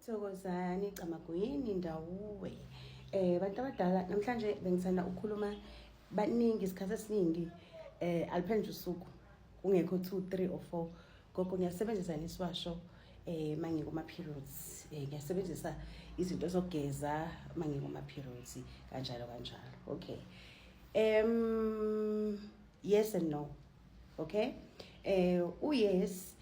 Thokozani Camagwini ndawuwe eh bantu abadala namhlanje bengithanda ukukhuluma baningi isikhathi esiningi eh aliphendle usuku kungekho 2 3 or 4 gogo ngiyasebenzisa nesiwasho eh mangikuma periods eh ngiyasebenzisa izinto zokugeza mangikuma periods kanjalo kanjalo okay em yes and no okay eh u yes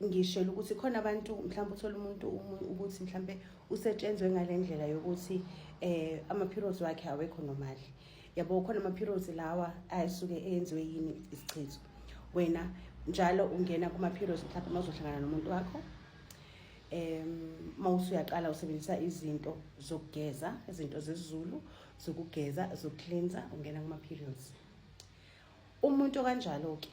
ngishela ukuthi khona abantu mhlawumbe uthole umuntu ukuthi mhlawumbe usetshenzwe ngale ndlela yokuthi um ama-periods wakhe awekho nomali yabo khona ama-periods lawa asuke enziwe yini isichitho wena njalo ungena kuma-periods mhlawumbe uma uzohlangana nomuntu wakho um uma usuyaqala usebenzisa izinto zokugeza izinto zezulu zokugeza zokucleansa ungena kuma-periods umuntu okanjalo-ke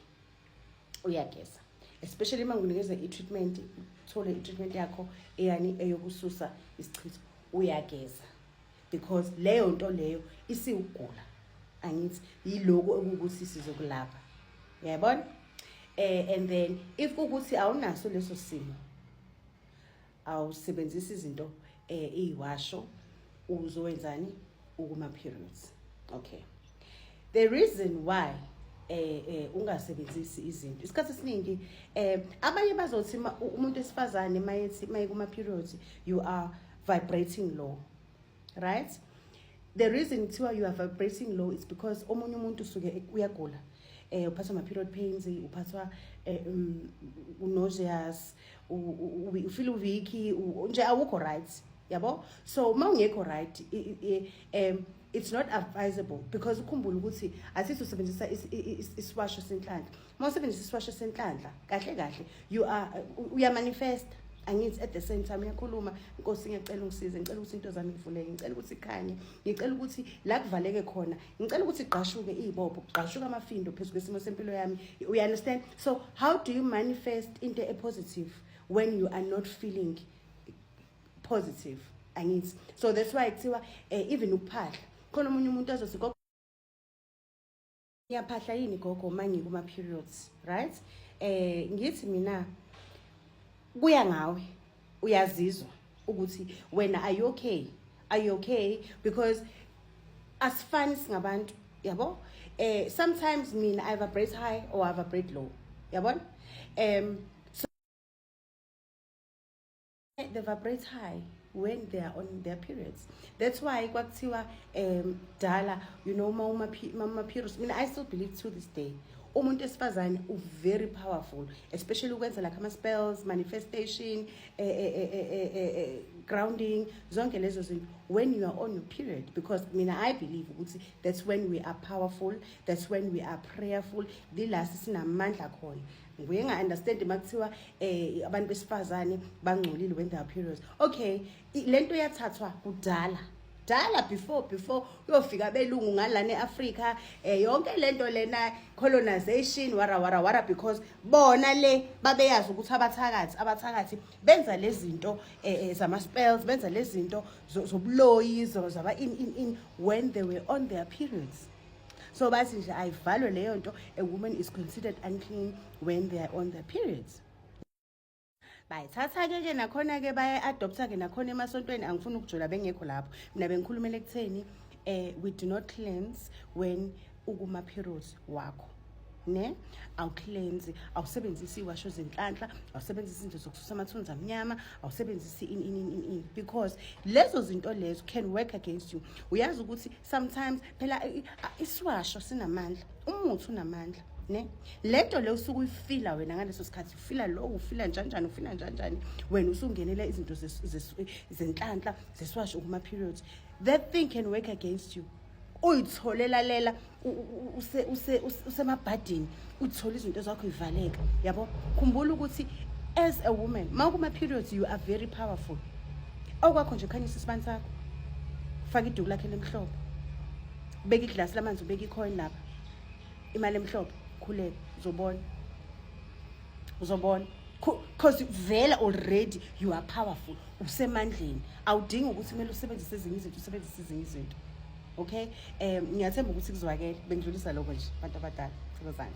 uyageza especially uma nginikeza i-treatment uthole i-treatment yakho eyani eyokususa isichitho uyageza because leyo nto leyo isiwugula angithi yiloku okuwukuthi sizokulapha yayibona um eh, and then if kuwukuthi awunaso leso simo awusebenzisa izinto um eh, iyiwasho uzowenzani ukuma-periods okay the reason why eh eh ungasebenzisi izinto isikhathi esiningi eh abanye bazothi umuntu esifazane mayethi mayikuma periods you are vibrating low right the reason kuthiwa you are vibrating low is because omunye umuntu usuke uyagula eh uphathwa ma period pains uphathwa eh, um, nauseous ufeel weak nje awukho right yabo so uma ungekho right um it's not advisable because ukhumbula ukuthi asithi usebenzisa isiwasho senhlanhla uma usebenzisa isiwasho senhlanhla kahle kahle you are uyamanifesta angithi at the same time uyakhuluma nkosi ngiyacela ungisize ngicela ukuthi into zami ngivuleke ngicela ukuthi ikhanye ngicela ukuthi la kuvaleke khona ngicela ukuthi igqashuke iy'bopho kugqashuke amafindo phezu kwesimo sempilo yami u understand so how do you manifest into epositive when you are not feeling positive angithi so that's why kuthiwa um even ukuphahla khona omunye umuntu azothi ngiyaphahla yini gogo uma ngikuma periods right eh ngithi mina kuya ngawe uyazizwa ukuthi wena are you okay are you okay because asifani singabantu yabo eh sometimes mina i vibrate high or i vibrate low yabona um they vibrate high when they are on their periods that's why kwakuthiwa um dala you know uma uma periods mina i still believe to this day umuntu esifazane uvery powerful especially ukwenza like ama-spells manifestation eh, eh, eh, grounding zonke lezo zinto when you are on your period because mina i believe ukuthi that's when we are powerful that's when we are prayerful lilasi sinamandla khona nguye nga-understand uma kuthiwa um eh, abantu besifazane bangcolile when there are periods okay le nto yathathwa kudala kudala before before kuyofika belungu ngalana eAfrica eh yonke lento lena colonization wara wara wara because bona le babeyazi ukuthi abathakathi abathakathi benza lezinto eh, eh zama spells benza lezinto zobuloyi zaba in in in when they were on their periods so bathi nje ayivalwe leyo nto a woman is considered unclean when they are on their periods bayithatha-ke ke nakhona-ke baya-adoptha-ke nakhona emasontweni angifuni ukujola bengekho lapho mina bengikhulumela ekutheni um we do not cleanse when ukuma-periods wakho ne awucleanse awusebenzisi iwasho zenhlanhla awusebenzisi izinto zokususa amathunzi amnyama awusebenzisi ini ini ini ini because lezo zinto lezo can work against you uyazi ukuthi sometimes phela i- i- isiwasho sinamandla umuthi unamandla ne lento le usuke uyifila wena ngaleso sikhathi ufila lo ufila njanjani ufila njanjani wena usungenela izinto zes- zes- zenhlanhla zesiwasho kuma periods that thing can work against you uyitholela lela usemabhadini uthole izinto zakho ivaleka yabo khumbula ukuthi as a woman ma kuma-periods you are very powerful okwakho nje khanyisa isibani sakho faka iduku lakhe lemhlophe ubeka iglasi lamanzi ubeka icoin lapha imali emhlophe khuleka uzobona uzobona because vele already you are powerful usemandleni awudingi ukuthi kumele usebenzise ezinye izinto usebenzise ezinye izinto okay um ngiyathemba ukuthi kuzwakele bengidlulisa lokho nje abantu abadala thokozane